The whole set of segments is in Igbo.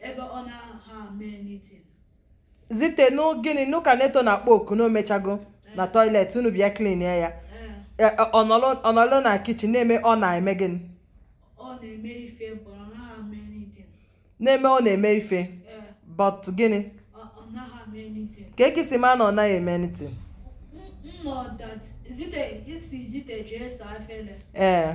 ebe ọ naha eme anything zite nụ gịnị nụ ka neto na-akpọ oku na o mechago na toilet unu bịa clean ya ya E, e, ọ nọlụ- ọ nọlụ na kitchen na-eme ọ na-eme gịnị ọ na-eme ife but ọ naha eme anything na-eme ọ na-eme ife but gịnị kee ka i si ma na ọ naghị eme anything ee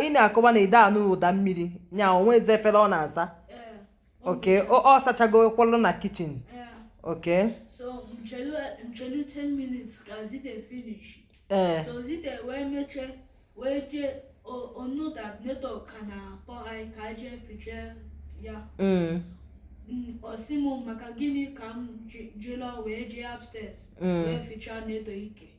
ị na-akọwa na ị da anụ ụda mmiri nya o nwezi efele ọ na-asa okay ọ sachago kwụlụ na kitchen okay so m chelu m chelu 10 minutes ka zite finish ee eh. so zite wee mecha wee jee ọ know that neto ka na-akpọ anyị ka anyị jee ficha ya mm. ọ sị m maka gịnị ka m jilo wee jee upstairs mm. wee ficha neto ike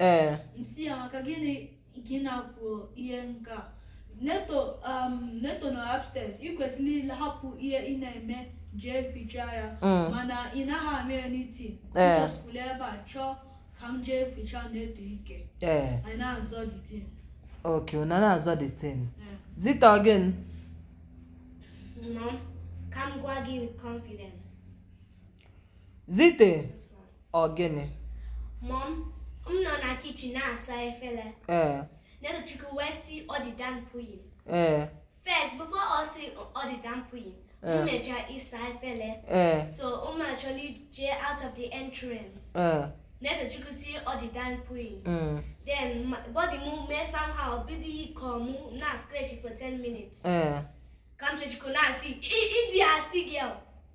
ee m sị ya maka gịnị gị na-ekwu ihe nke a neto um, neto nọ upstairs ị kwesịrị ịhapụ ihe ị na-eme jee ficha ya mm. mana ị naghị eme anything ị just kwụlụ ebe a chọọ ka m jee ficha neto ike anyị na-azọ the thing ok unu na-azọ the thing zite again no ka m gwa gị with confidence Zite ọ gịnị? Mom, m nọ na kitchen na-asa efere. Ee. Netochukwu wee sị ọ dị done pooing. Ee. First, before ọ sị ọ dị done pooing, m mecha ịsa efere. Ee. So, mụ achọrọ ije out of the entrance. Ee. Netochukwu sị ọ dị done pooing. Mm. Then, body m mee somehow bido ịkọ mụ na scratch for 10 minutes. Ee. Kamsichukwu na-asị, ị dị asị gị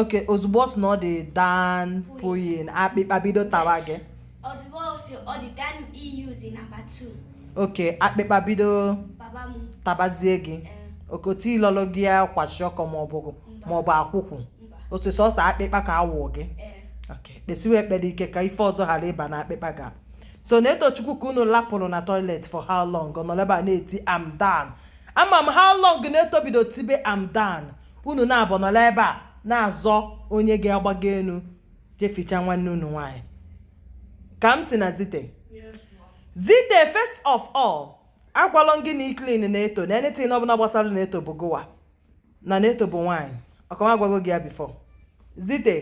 okay ozugbo ọ sị na ọ dị done pooing akpịkpa bido tawa gị okay akpịkpa bido tabazie gị eh. okote ilọlụ gị ya kwashiorkor maọbụ maọbụ akwụkwụ otu sọsọ akpịkpa ka awụ gị eh. kpesiwe ekpere ike ka ife ọzọ ghara ịba na akpịkpa ga so netochukwu ka unu lapụrụ na toilet for how long ọ nọrọ ebe a na-eti I'm done ama m how long neto bido tibe I'm done unu naabọ nọlụ ebe a na-azọ onye ga-agbago enu je ficha nwanne unu nwaanyị kamsi na zite zite first of all agwalọ gị na ịclean neto na anything ọbụla gbasara neto bụ gụwa na neto bụ nwaanyị ọkwa m agwago gị ya before zite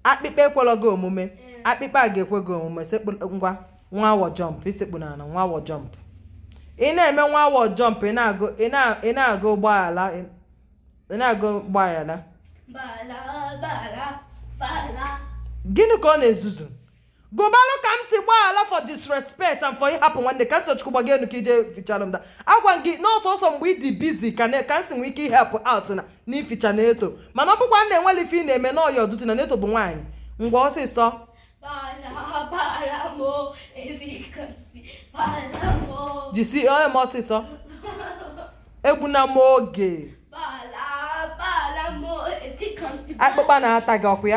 akpịkpa ekwelọ gị omume akpịkpa a ga-ekwe gị omume ngwa nwa awọ jump isekpu n'ana nwa awọ jump ị na-eme nwa awọ jump ị na-agụ gbaghala gịnị ka ọ na-ezuzu gụbalụ Kamsi gbaghara for disrespect and for ịhapụ nwanne Kamsiyọchukwu gbaga enu ka ije fichalụ m da agwa gị na sọọsọ mgbe ị dị busy ka Kamsi nwee ike ị help out na nficha neto mana ọ bụkwa na enwerọ ife ị na-eme na ọ your duty na neto bụ nwaanyị ngwa ọsịsọ jisi onye m ọsịsọ egbuna m oge akpụkpa na-ata gị ọkụ ya